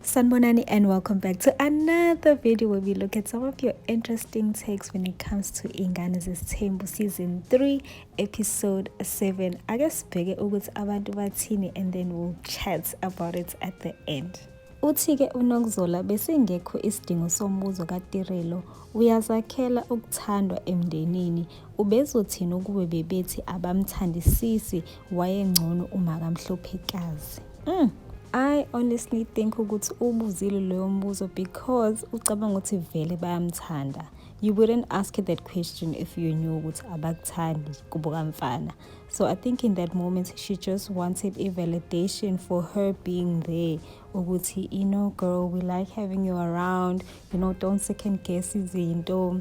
Sanbonani and welcome back to another video where we look at some of your interesting takes when it comes to Ingane Zesthembu season 3 episode 7. I guess bigger ukuthi abantu bathini and then we'll chat about it at the end. Uthi-ke uNokuzola besingekho isidingo sombuzo kaTirelo, uyazakhela ukuthandwa emndenini. Ubezothini ukube bebethi abamthandisisi wayengcono umakamhlophekazi mm. I honestly think ukuthi ubuzile loyo mbuzo because ucabanga ukuthi vele bayamthanda you wouldn't ask that question if you knew ukuthi abakuthandi kubo kamfana so i think in that moment she just wanted a validation for her being there ukuthi you know girl we like having you around you know don't second guess izinto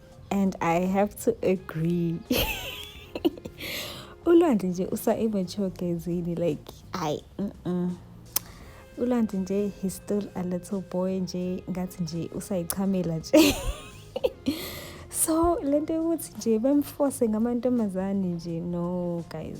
and i have to agree ulwandle nje usa-immature gezini like ayi mm -mm. ulwandle nje he's still a little boy nje ngathi nje usayichamela nje so le nto yokuthi nje bemfose ngamantombazane nje no guys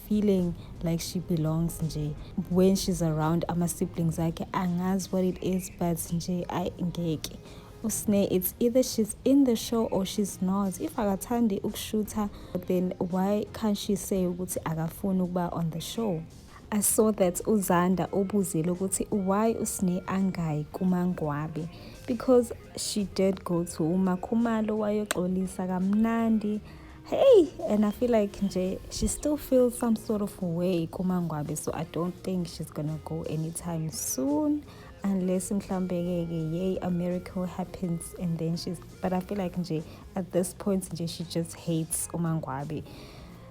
feeling like she belongs nje when she's around ama siblings akhe angazi what it is but nje ayi ngeke usne it's either she's in the show or she's not if akathandi ukushutha then why can't she say ukuthi akafuni ukuba on the show I saw that uZanda ubuzile ukuthi why usne angayi kumangwabe because she did go to umakhumalo wayoxolisa kamnandi hey and i feel like nje she still feels some sort of way kumangwabe so i don't think she's gonna go anytime soon unless mhlawumbe-ke ke yay a miracle happens and then she's but i feel like nje at this point nje she just hates umangwabe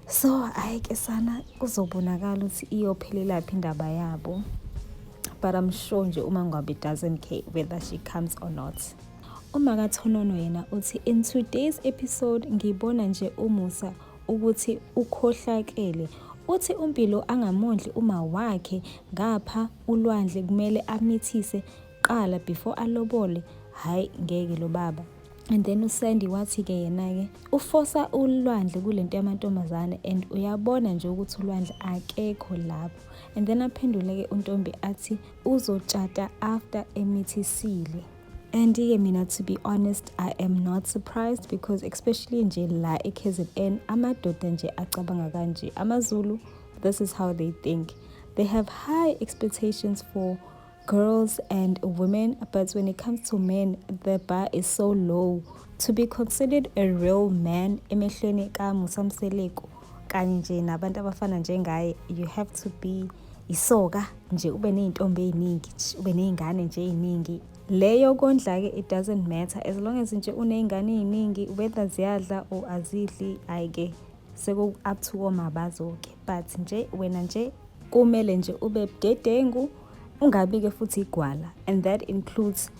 so hayi ke sana kuzobonakala ukuthi iyophelelaphi indaba yabo but i'm sure nje umangwabe doesn't care whether she comes or not UMakaThonono yena uthi in today's episode ngibona nje uMusa ukuthi ukhohlakele. Uthi uMpilo angamondli uma wakhe ngapha ulwandle kumele amithise qala before alobole. Hayi ngeke lo baba. And then uSandy wathi ke yena ke ufosa ulwandle kulento yamantombazane and uyabona nje ukuthi ulwandle akekho lapho. And then aphendule ke untombi athi uzotshata after emithisile. and ke mina to be honest i am not surprised because especially nje la e-kzn amadoda nje acabanga kanje amazulu this is how they think they have high expectations for girls and women but when it comes to men the bar is so low to be considered a real man emehlweni kamusa mseleku kanye nje nabantu abafana njengaye you have to be isoka nje ube ney'ntombi ey'ningi ube ney'ngane nje ey'ningi leyo kondla-ke it doesn't matter as long as nje uney'ngane ey'ningi whether ziyadla or azidli hhayi-ke seku-up to komabazo-ke but nje wena nje kumele nje ube budedengu ungabi-ke futhi igwala and that includes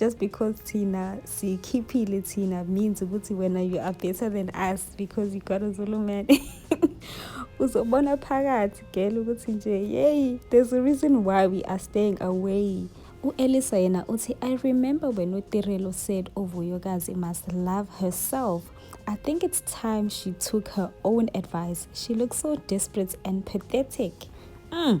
just because thina sikhiphile thina means ukuthi wena you are better than us because you got a zulu man uzobona phakathi gela ukuthi nje yeyi there's a reason why we are staying away u-elisa yena uthi i remember when utirelo said uvuyokazi must love herself i think it's time she took her own advice she looks so desperate and pathetic mm.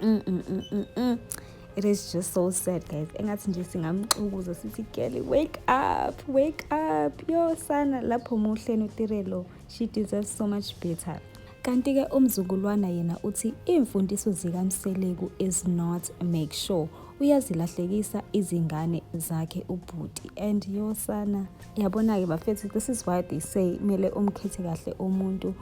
mm, mm, mm, it is just so sad guys engathi nje singamxukuza sithi girl wake up wake up yo sana lapho muhleni utirelo she deserves so much better kanti-ke umzukulwana yena uthi iimfundiso zikamseleku is not make sure uyazilahlekisa izingane zakhe ubhuti and yosana yabona-ke bafethu this is why they say kumele umkhethe kahle umuntu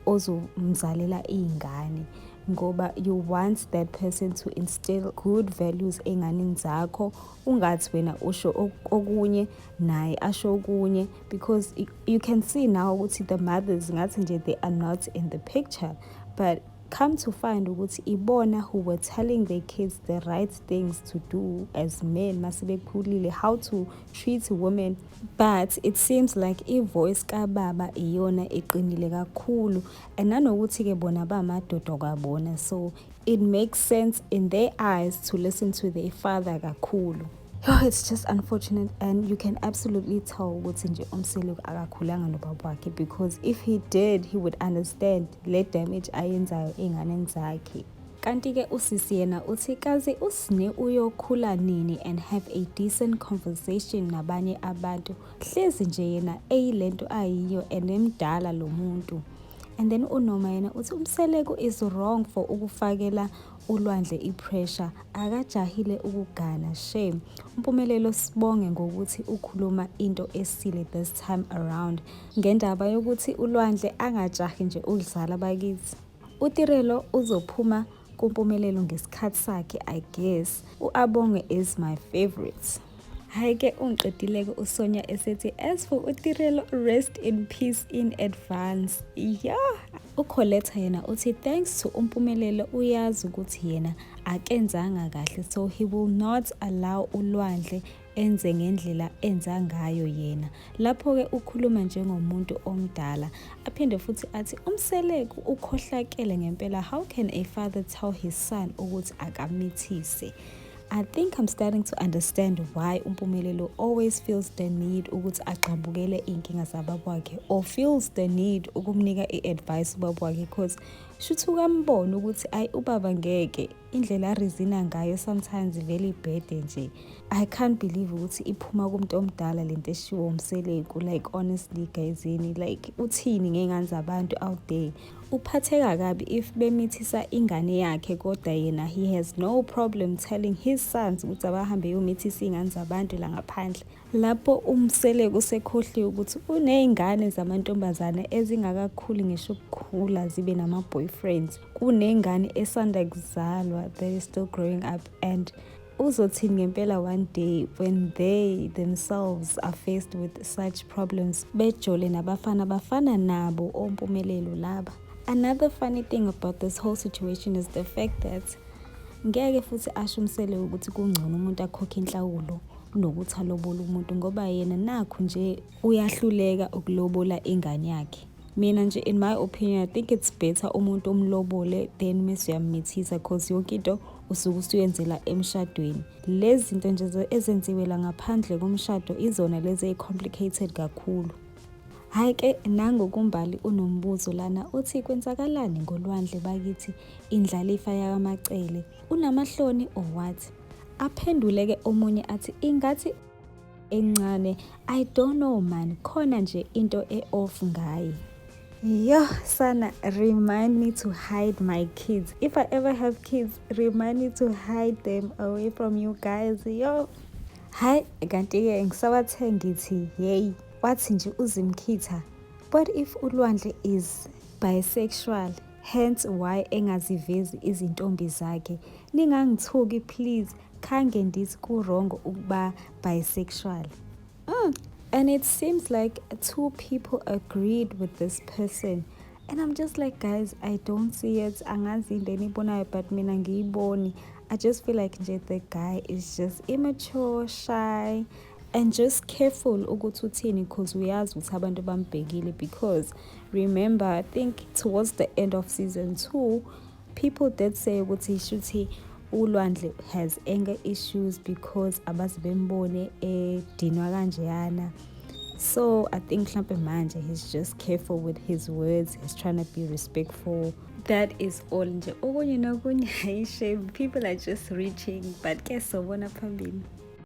ozomzalela iy'ngane ngoba you want that person to instill good values enganini zakho ungathi wena usho okunye naye asho okunye because you can see now ukuthi the mothers ngathi nje they are not in the picture but come to find ukuthi ibona who were telling their kids the right things to do as men masebekhulile how to treat women but it seems like ivoice kababa iyona eqinile kakhulu and nanokuthi-ke bona bamadoda kwabona so it makes sense in their eyes to listen to their father kakhulu Oh, it's just unfortunate and you can absolutely tell ukuthi nje umseleku akakhulanga nobaba wakhe because if he did he would understand le damage ayenzayo ey'nganeni zakhe kanti-ke usisi yena uthi kazi usne uyokhula nini and have a decent conversation nabanye abantu Hlezi nje yena eyilento ayiyo and emdala lo muntu. And then uNoma yena uthi uMseleku is wrong for ukufakela ulwandle ipressure akajahile ukugana shame umpumelelo sibonge ngokuthi ukhuluma into esile this time around ngendaba yokuthi ulwandle angajahi nje ukudlala bakithi utirelo uzophuma kumpumelelo ngesikhathi sakhe i guess uabonge is my favorite hhayi ke ungiqedile-ke usonya esethi as for utirelo rest in peace in advance ya ukholetha yena uthi thanks to umpumelelo uyazi ukuthi yena akenzanga kahle so he will not allow ulwandle enze ngendlela enza ngayo yena lapho-ke ukhuluma njengomuntu omdala aphinde futhi athi umseleku ukhohlakele ngempela how can a father tell his son ukuthi akamithise I think I'm starting to understand why uMpumelelo always feels the need ukuthi agxambukele inkinga zababa wakhe or feels the need ukumnika i-advice ubaba wakhe because shuthi ukambona ukuthi ayi ubaba ngeke indlela arizina ngayo sometimes vele ibhede nje i can't believe ukuthi iphuma kumuntu omdala lento eshiwo umseleku like honestly guyzini like uthini ngey'ngane zabantu out there uphatheka kabi if bemithisa ingane yakhe kodwa yena he has no problem telling his sons ukuthi abahambe yomithisa iy'ngane zabantu la ngaphandle Lapho uMseleku usekhohliwe ukuthi uney'ngane zamantombazane ezingakakhuli ngisho ukukhula zibe nama-boyfriends. Kuney'ngane esanda kuzalwa that is still growing up and uzothini ngempela one day when they themselves are faced with such problems bejole nabafana bafana nabo ompumelelo laba. Another funny thing about this whole situation is the fact that ngeke futhi asho umsele ukuthi kungcono umuntu akhokhe inhlawulo kunokuthi alobole umuntu ngoba yena nakho nje uyahluleka ukulobola ingane yakhe mina nje in my opinion i think it's better umuntu omlobole then mese uyamithisa cause yonke into usuke usuyenzela emshadweni lezi zinto nje ezenziwe la ngaphandle komshado izona lezi eyi-complicated kakhulu hhayi ke nangokumbali unombuzo lana uthi kwenzakalani ngolwandle bakithi indlalifa yakamacele unamahloni or what Aphendule ke omunye athi ingathi encane I don't know man khona nje into e off ngaye. Yo, Sana, remind me to hide my kids. If I ever have kids, remind me to hide them away from you guys. Yo. Hi, kanti-ke ngisabathe ngithi yeyi wathi nje uzimkhitha what if ulwandle is bisexual Hence why engazivezi izintombi zakhe. Ningangithuki please, khange ndithi ku-wrong ukuba bisexual. Mm. And it seems like two people agreed with this person. And I'm just like, guys, I don't see it. Angazi into enibonayo but mina ngiyiboni. I just feel like nje the guy is just immature, shy, and just careful ukuthi uthini because uyazi ukuthi abantu bambhekile because remember i think towards the end of season two people did say ukuthi shuthi ulwandle has anger issues because abazi bembone edinwa kanjeyana so i think mhlampe manje he's just careful with his words he's trying to be respectful that is all nje okunye nokunye hayi shame people are just reaching but ke sobona phambili